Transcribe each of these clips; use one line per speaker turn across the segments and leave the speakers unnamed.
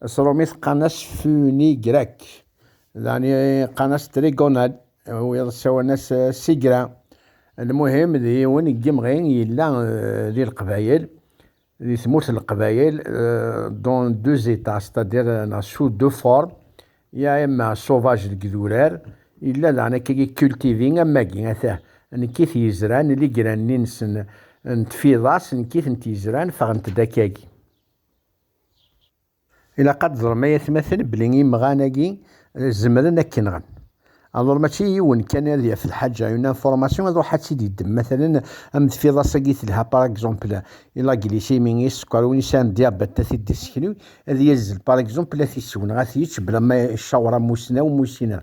Asrumit qqan-as Funi Grec, daɣen qqan-as Trigonal, wiyaḍ ssawalen-as Sigra. Lmuhim, d yiwen n yimɣi yella di Leqbayel, di tmurt n Leqbayel, dans deux états, c'est-à-dire neɣ sous deux formes, ya imma sauvage deg idurar, yella daɣen akkagi cultivé am wagi, atah, nekk i t-yezran, ligranni-nsen n tfiḍas, nekk i tent-yezran, ffɣent-d akkagi. Ilaq ad teẓrem ay atmaten belli imɣan-agi zemren ad k-nɣen. Alor mačči yiwen kan ad yaf lḥaǧa, une information ad ruḥ ad tt-id-yeddem. Matalen, am tfiḍas-agi telha par exemple i la glycémie, i sskeṛ, win yesɛan diabète ad t-id-yesseknu, ad yazzel par exemple ad t-isew neɣ ad t-yečč bla ma icaweṛ amussnaw, musineur.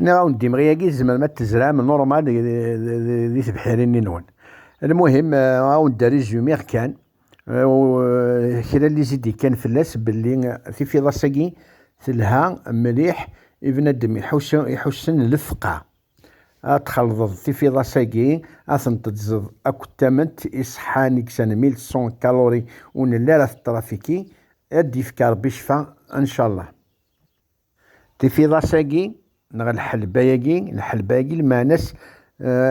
Nniɣ-awen-d imɣi-agi tzemrem ad tezram normal di tebḥirin-nni-nwen. Lmuhim, awen-d résumé kan, kra n lizid yekkan fell-as belli tifiḍas-agi telha mliḥ i bnadem iḥussen lefqeɛ. Ad txalḍeḍ tifiḍas-agi, ad tent-tezzeḍ akked tament iṣeḥḥan i yesɛan 1100 calories ur nelli ara teṭrafiki, ad d-yefk Rebbi ccfa, en-calleh. Tifiḍas-agi neɣ lḥelba-agi, lḥelba-agi lmeɛna-s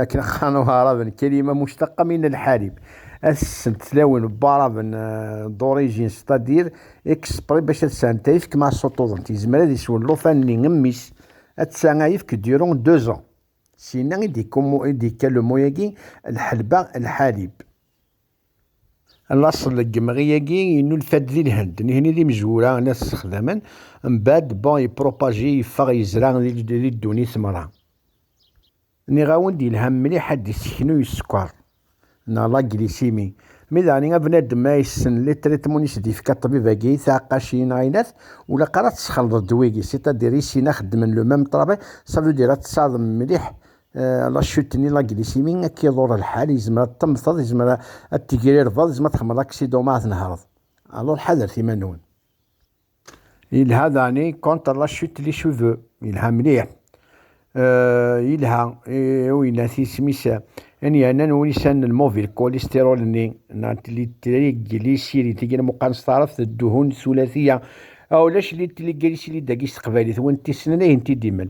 akken qqaren Waɛraben, kelima muctaqa min al-ḥalib, ad sent tlawin n Waɛraben d'origine c'est-à-dire exprès bac ad sɛent ayefk ma suṭuḍent, yezmer ad iswen llufan-nni n mmi-s, atta ayefk durant deux ans. Syenna i d-yekka le mot-agi lḥelba, lḥalib. Laṣel n yemɣi-agi yennulfa-d di Lhend, nitni d imezwura n at Sexdamen, mbeɛd bon yepropage yeffeɣ yezra di ddunit meṛṛa. Nniɣ-awen-d yelha mliḥ ad d-iseknu yeskeṛ neɣ la glycémie, mi daɣen a bnadem ma yessen li traitement i s-d-yefka ṭṭbib-agi i tɛeqqacin neɣ aylat, ulaqar ad tesxelḍeḍ ddwa-agi, c'est-à-dire isin-a xeddmen le même travail, ça veut dire ad tessaḍem mliḥ la chute ni la glycémie akka iḍur lḥal yezmer ad temmteḍ yezmer ad tegrirḍeḍ yezmer ad tḥemmleḍ aksidu ma ad tnehreḍ alors ḥadret iman-nwen yelha dani contre la chute les cheveux yelha mliḥ yelha uyennat isem-is n yernan ulisan n lmobile cholestérol-nni li triglycéride tigi lmuqan s taɛrabt dduhun sulatiya ulac li triglycéride-agi s teqbaylit win t-yessnen ihi n t-id-imen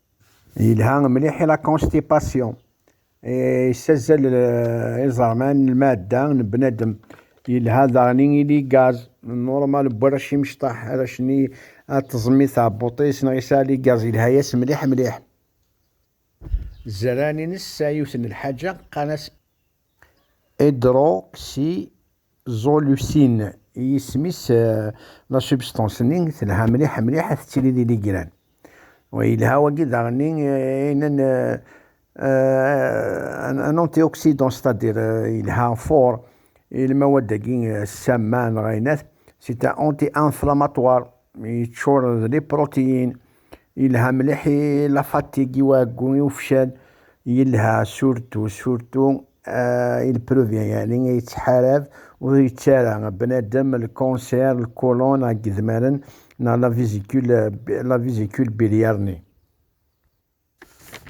Yelha mliḥ i la constipation. Yessazzel eh, iẓerman n lmadda n bnadem. Yelha daɣen i ili gaz normal n warrac imecṭaḥ arrac-nni ad teẓmi tɛebbuṭ-is neɣ yesɛa li gaz yelha-yas mliḥ mliḥ. Zzerran-ines sɛa yiwet n lḥaǧa qqan-as Hydroxyzoleucine i yisem-is la substance-nni telha mliḥ mliḥ tettili d iligran. Wa yelha wagi daɣenni inen un antioxydant c'est-à-dire yelha fort i lmawad-agi ssama neɣ ayennat c'est un anti-inflammatoire yeččur d liprotiyin. Yelha mliḥ i la fatigue i uɛeggu i ufcel yelha surtu surtu euh, il previent yani yettḥarab ur yettu ara bnadem lkanser lkulun neɣ yedmaren neɣ la vésicule la vésicule biliaire-nni.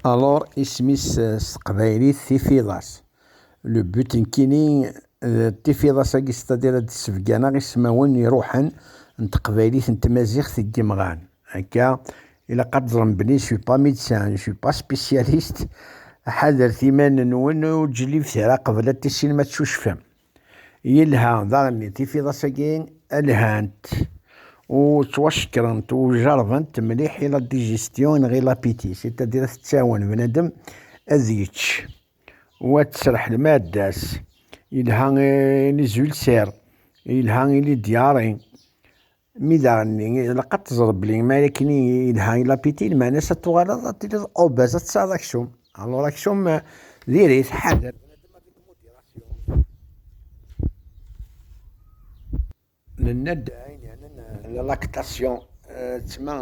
Alors isem-is s teqbaylit tifiḍas. Le but nekkini d tifiḍas-agi, c'est-à-dire ad d-ssebganeɣ ismawen iruḥen n teqbaylit n tmaziɣt deg yimɣan. Akka, ilaq ad teẓrem belli je suis pas médecin, je suis pas spécialiste, ḥadret iman-nwen, ur d-jellibet ara qbel ad tissinem ad tcucfem. Yelha daɣen tifiḍas-agi lhant u ttwacekkrent u jerbent mliḥ i la digestion neɣ i l'appétit, c'est-à-dire tettawen bnadem ad yečč. Wa tesreḥ lmadda-s, yelha i lizulsir, yelha i lidyari. Mi daɣen ilaq ad teẓreḍ belli mi ara akken yelha i lapiti, lmeɛna ad tuɣaleḍ ad tiliḍ obèz, ad tesɛeḍ aksum. Alors aksum diri-t, ḥader. Nenna-d ayen yeɛnan la lactation, d tma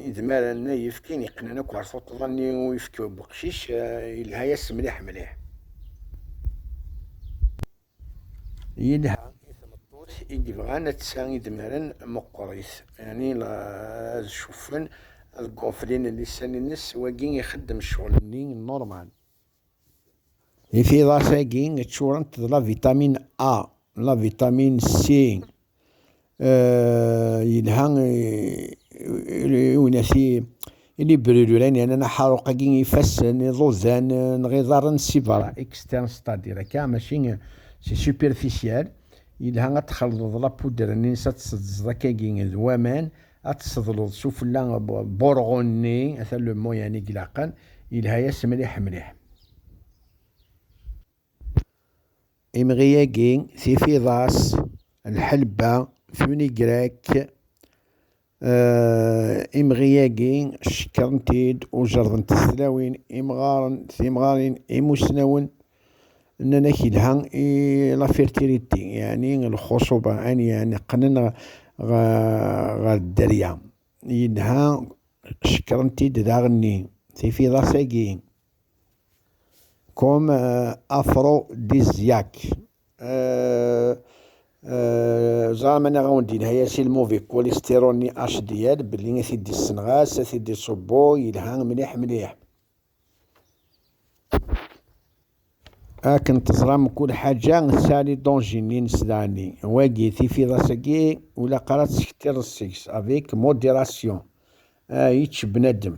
idmaren n yifki yeqqnen akk ɣer tuṭṭḍa n uyefki n weqcic, yelha-yas mliḥ mliḥ. Yelha i tmeṭṭut i yebɣan ad tsa idmaren meqqer-it, yeɛni ad cuffen deg wufrin n lisan-nnes, wagi ixeddem ccɣel-nni normal. Tifiḍas-agi ččurent d la vitamin A, la vitamin C, yelha iwenasi ili bruluran yernan aḥaruq-agi ifassen, iḍudan neɣ iḍarren si berra, externe c'est-à-dire akka mačči si superficiel, yelha ad txelḍeḍ la poudre-nni-nnes ad tseddzeḍ akkagi d waman ad tseḍleḍ sufella burɣu-nni, ata le moyen i ilaqen, yelha-yas mliḥ mliḥ. Imɣi-agi, tifiḍas, lḥelba, funigrak, imɣi-agi cekkren-t-id u jerḍent-t tlawin, imɣaren, timɣarin, imusnawen, Nnan-ak yelha i la fertilité, yeɛni lxuṣuba, ani yeɛni qqnen ɣer dderya. Yelha cekkren-t-id daɣenni tifiḍas-agi, comme aphrodisiaque. Ẓer ma nniɣ awen-d yelha ya si lmuvi cholestérol ni HDL belli a t-id-yessenɣas, a t-id-iṣubbu, yelha mliḥ mliḥ. akken teẓram kul ḥaǧa tesɛali dongini nesdɛani wagi tifiḍas-agi ulaqar ad tesktireḍ seg-s avec modération ah yečč bnadem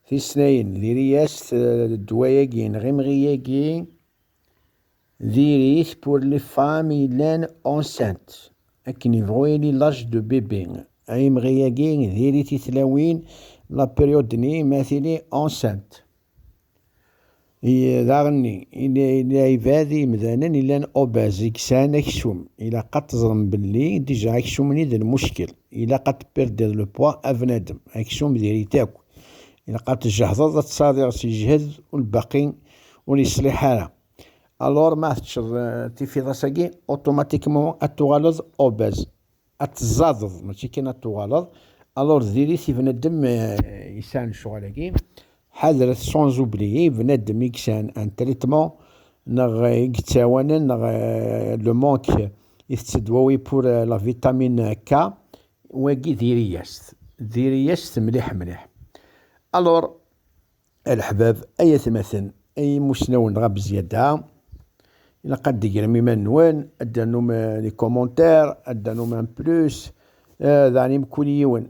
tisnayin diri-as-t ddwa-agi neɣ imɣi-agi Diri-t pour les femmes yellan enceintes, akken yebɣu yili l'âge de bébé. Ay imɣi-agi, diri-t i tlawin, la période-nni, ma tili enceinte. Daɣenni, ila ibad imdanen yellan obèses, i yesɛan aksum. Ilaq ad teẓrem belli déjà aksum-nni d lmuckel. Ilaq ad perder le poids a bnadem. Aksum diri-t akk. ilaq ad tjehdeḍ ad tadiḍ si jhed ur lbaqi ur yeṣliḥ ara alors ma teččeḍ tifiḍas-agi automatiquement ad tuɣaleḍ obèse ad tezzadeḍ mačči kan ad tuɣaleḍ alors diri-t i bnadem yesɛan lecɣal-agi ḥadret sans oublier bnadem i yesɛan un traitement neɣ i yettawanen neɣ le manque i tettedwawi pour la vitamine K Wagi diri-yas-t, diri-yas-t mliḥ mliḥ. Alors, a leḥbab, ay atmaten, ay imusnawen dɣa bezyada, ilaq ad d-tegrem iman-nwen, ad d-ternum des commentaires, ad d-ternum un plus, daɣen i mkul yiwen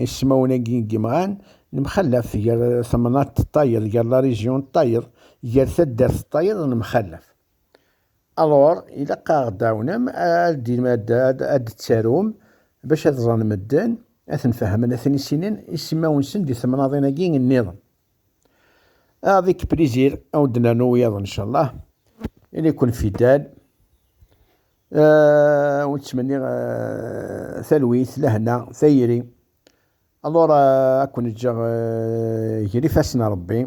ismawen-agi n yimɣan, nemxallaf gar temnaḍt d tayeḍ, gar la région d tayeḍ, gar taddart d tayeḍ, nemxallaf. Alors, ilaq ad aɣ-d-tɛawnem, ad d-tarum, bac ad ẓren medden, ad ten-fehmen, ad ten-issinen, isimawen-nsen di temnaḍin-agi nniḍen. Avec plaisir, ad wen-d-nernu wiyaḍ incallah. Ili-ken fidèle. Euh, ur ttmenniɣ euh, talwit, lehna, tayri. Alors, euh, ad ken-ǧǧeɣ euh, gar ifassen Rebbi.